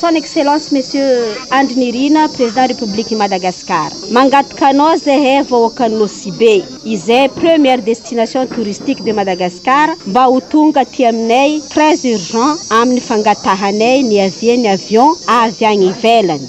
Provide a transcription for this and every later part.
Son excellence monsieur Andry Nirina président République Madagascar mangataka anao zahay vahoakan'i Nosy Be izay première destination touristique de Madagascar mba ho tonga aty aminay très urgent amin'ny fangatahanay ny avier ny avion avy any ivelany.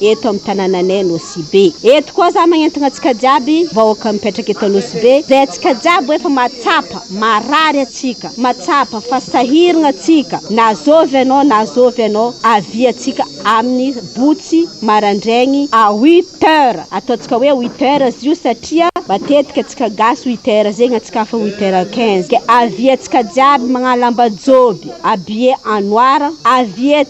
eto amin'ny tanananay Nosibe. Eto koa za magnentagna antsika jiaby vahoaka mipetraka eto Anosibe zay antsika jiaby hoe fa mahatsapa marary antsika mahatsapa fa sahiragna antsika na zovy anao na zovy anao avia antsika amin'ny botsy marandraigny à huit heures ataontsika hoe huit heures izy io satria matetika antsika gasy huit heures zegny antsika hafa huit heures quinze ke avia antsika jiaby magnala ambajoby habillé en noir avia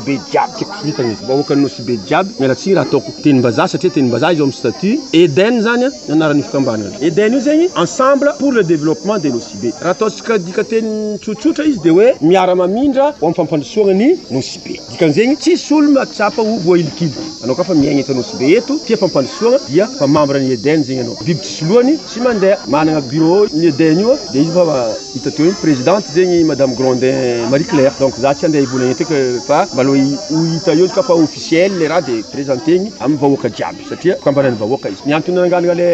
Be jiaby tiako sy vitany eto. Vahoaka ny Nosy be jiaby miala tsiny raha ataoko tenim-bazaha satria tenim-bazaha izy ao amin'ny statut. Eden zany ny anaran'io fikambanana io. Eden io zegny ensemble pour le développement de Nosy be. Raha ataontsika dikanteny tsotsotra izy dia hoe miara-mamindra ho amin'ny fampandrosoagna ny Nosy be. Dikan'izegny tsisy olo mahatsapa ho voahilikiliky anao ka fa miaigna eto Nosy be eto tia fampandrosoagna dia mpamambra ny Eden zegny anao. Biby tsisy lohany. Tsy mandeha, manana bureau ny Eden io dia izy efa hita teo iny presidente zegny madame Grondin Marie Claire donc za tsy handeha hivolagna eto eky fa mba aloha ho hita eo izy ka fa officiel le raha de presenter-gny amin'ny vahoaka jiaby satria fikambanan'ny vahoaka izy, ny antony nangalana le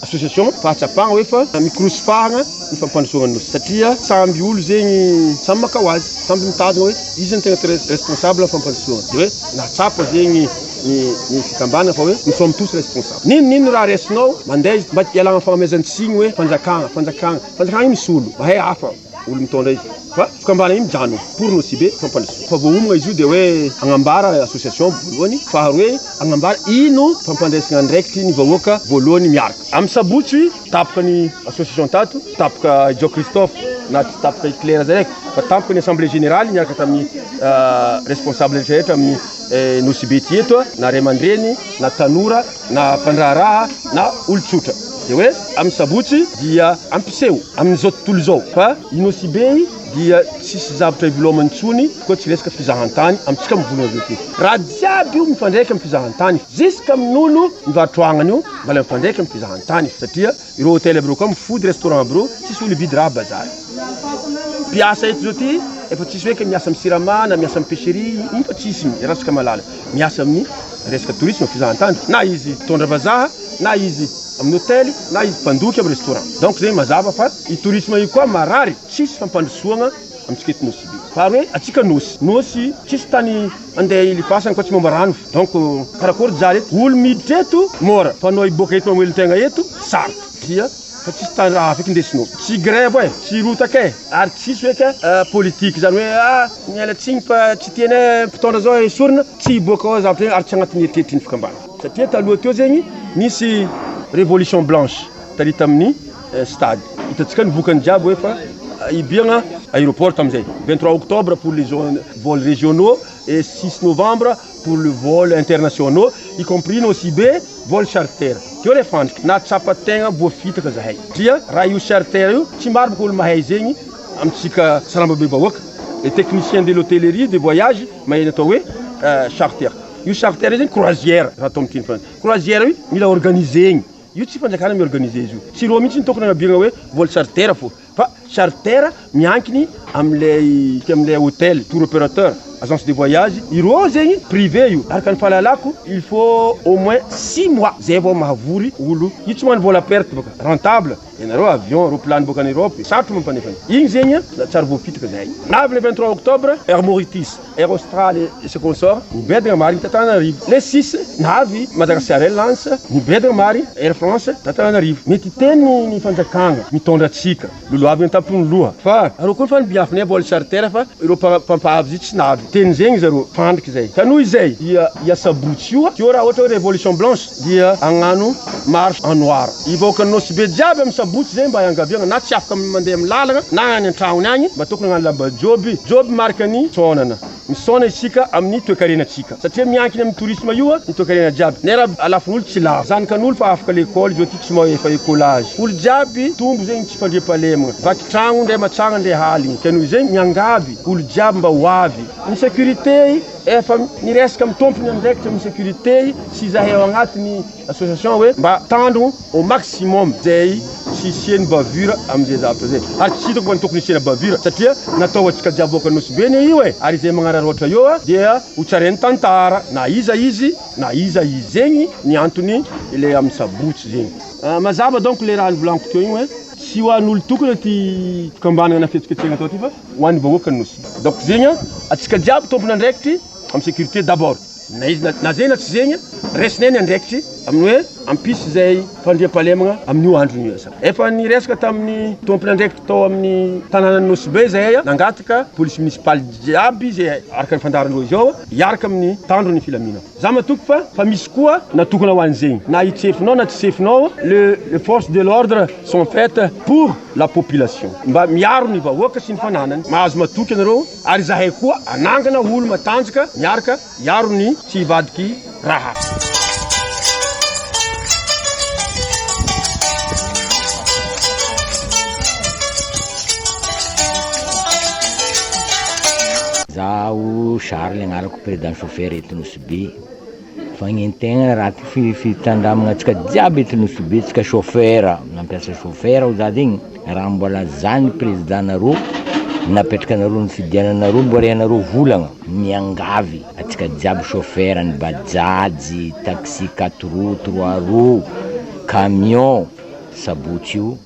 association fahatsapagna hoe fa mikorosy fahagna ny fampandrosoagna ny nosy satria samby olo zegny samy maka ho azy, samby mitady hoe iza no tegna responsable amin'ny fampandrosoagna de hoe nahatsapa zegny ny ny fikambanana fa hoe nous sommes tous responsables. N'inona n'inona raha raisinao mandeha izy mba ialana amin'ny fagnomezany tsiny hoe fanjakana, fanjakana, fanjakana io misy olo mahay hafa olo mitondra izy fa fikambanana io mijanona pour nos cibles fampandrosoana fa vao homagna izy io dia hoe agnambara association voalohany faharoe agnambara ino fampandraisana andraikitry ny vahoaka voalohany miaraka amin'ny sabotsy tapoka ny association tato tapoka i Joe Christophe na tsy tapoka i Claire zay raiky fa tapoka ny assemblée générale miaraka tamin'ny responsable rehetra rehetra amin'ny Nosibe tsy eto na ray aman-dreny na tanora na mpandraharaha na olon-tsotra dia hoe amin'ny sabotsy dia ampiseho amin'izao tontolo izao fa i Nosibe dia tsisy zavtra ivelomany intsony koa tsy resaka fizahantany amintsika mivonona avy eo ty raha jiaby io mifandraika amin'ny fizahantany ziska amin'ny nono mivarotra agnana io mbola mifandraika amin'ny fizahantany satria Ireo hotely aby reo koa mifoody restaurant aby reo tsisy olo hividy raha bazar. Mpiasa eto zao ty efa tsisy hoe miasa am sirama na miasa am pecherie iny fa tsisy iny iarahantsika mahalala. Miasa amin'ny resaka tourisme fizahantany na izy mpitondra vazaha na izy amin'ny hotely na izy mpandoky am restaurant. Donc zay mazava fa io tourisme io koa marary tsisy fampandrosoagna amintsika eto Nosy be. Fa ary hoe antsika Nosy, Nosy tsisy tany Andeha hilibasany fa tsy momba rano donc karakory djara eto olo miditra eto mora fa anao hiboaka eto mamelon tegna eto sarotra dia fa tsisy tany raha afaka indesinao tsy grève eh tsy rotaka eh ary tsisy hoe ka politique zany hoe ah miala tsiny fa tsy tianay mpitondra zao esorina tsy hiboaka ao zavatra io ary tsy agnatin'ny eritreritrin'ny fikambana satria taloha teo zegny nisy révolution blanche tary tamin'ny stade hitantsika ny vokany jiaby hoe fa hibiagna aéroport tamin'izay vingt trois octobre pour les vols régionaux et six novembre pour le vol internationaux y compris nosibe vol charter teo le fandrika nahatsapa tegna voafitaka zahay satria raha io charter io tsy maro bôka olo mahay zegny amintsika sarambabe bahoaka le technicien de l'hôtellerie de voyage mahay ny atao hoe charter io charter io zegny croisière raha atao amin'ny teny frantsay croisière io mila organiser-gny Io tsy fanjakana mi organiser izy io. Tsy reo mihitsy ny tokony anabirana hoe vol charter fô fa charter miankiny amin'ilay amin'ilay hotel, tour operateur, agence de voyage ireo zegny privé io. Araka ny fahalalako il faut au moins six mois zay vao mahavory olo. Io tsy magnano vol à perte bôka, rentable ianareo avion, roplano bôka any Europe, sarotro mampanefa an'io. Igny zegny na tsary voafitika zahay. Navy le vingt trois octobre Air Mauritis. Air Austral sy consorts, niboedagna marigny ta Tananarivo. Nef six, navy Madagascar Airlines, niboedagna marigny Air France ta Tananarivo. Mety hiteny ny fanjakagna mitondra antsika, lolohavigny an-tampony loha, fa arô koa fa nibiafagnay vol charter fa irô mpampavy zay tsy navy. Teny zegny zarô, fandriky zay. Ka noho izay, i asabotsy io, teo raha ohatra hoe révolution blanche. dia agnano marche en noir y vahoakan'i Nosy be jiaby amin'ny sabotsy zay mba iangaviagna na tsy afaka mandeha amin'ny lalagna na any an-tragno agny mba tokony agnano lamba joby joby marika ny fisaonana misaona isika amin'ny toekarena tsika satria miankina amin'ny tourisme io ny toekarena jiaby ny arabo alafon'olo tsy lavo zanakan'olo fa afaka lekôly zao ty tsy mahay efa ecolage olo jiaby tombo zegny tsy fandriampahalemagna vaky tragno ndray matsagna ndray haligny ka noho izay miangavy olo jiaby mba ho avy ny securite Efa miresaka amin'ny tompony andraikitra amin'ny sécurité sy izahay ao agnatin'ny association hoe mba tandrogno au maximum izay tsy hisian'ny bavure amin'izay zavatra izay. Ary tsy hitako fa ny tokony hisiana bavure satria natao ho antsika jiaby boaka Nosy-be anie io e! Ary izay magnararaotra eo dia ho tsarain'ny tantara na iza izy na iza izy. Zegny ny antony ilay amin'ny sabotsy zegny. Mazava donc ilay raha novolaniko teo igny hoe tsy ho an'olo-tokana ty fikambanagna na fihetsiketsehagna atao ty fa ho an'ny vahoakan'ny Nosy. Donc zegny an, antsika jiaby tompon' andraikitry amin'ny sécurité d'abord, na izy na na zegny na tsy zegny, raisinay ny andraikitry amin'ny hoe hampisy izay fandriampahalemagna amin'io androny io. Sa efa niresaka tamin'ny tompon' andraikitry tao amin'ny tanànan'i Nosy Be izahay an, nangataka police municipale jiaby izay araka ny fandaharan'ireo izao hiaraka amin'ny tandron'ny filaminana. Za matoky fa fa misy koa natokona ho an'izegny na hitsefonao na tsy sefonao le le force de l'ordre sont faites pour la population mba miaro ny vahoaka sy ny fananany mahazo matoky anareo ary zahay koa anangana olo matanjaka miaraka hiaro ny tsy hivadiky raha Zaho Charles agnarako. Président chauffeur eto Nosy-Be, fagnino tegna raty fi- fitandramagna antsika jiaby eto Nosy-Be, tsika chauffeur, mampiasa chauffeur ho za zegny, raha mbola za ny président nareo, napetraka anareo nifidiana anareo mbô re anareo volagna, miangavy antsika jiaby chauffeur ny bajaj, taxi quatre roues, trois roues, camion, sabotsy io.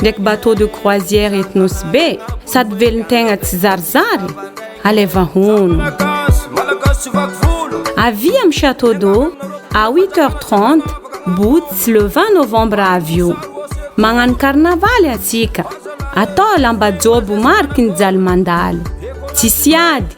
ndraiky bateau de croisière eto Nosy Be sady velon-tegna tsizarizary? Alaiva hono! Avia am Château d'eau à huit heures trente boots le vingt novembre avio! Magnano karnavaly antsika! Atao lamba jobo mariky ny jaly mandalo! Tsisy ady!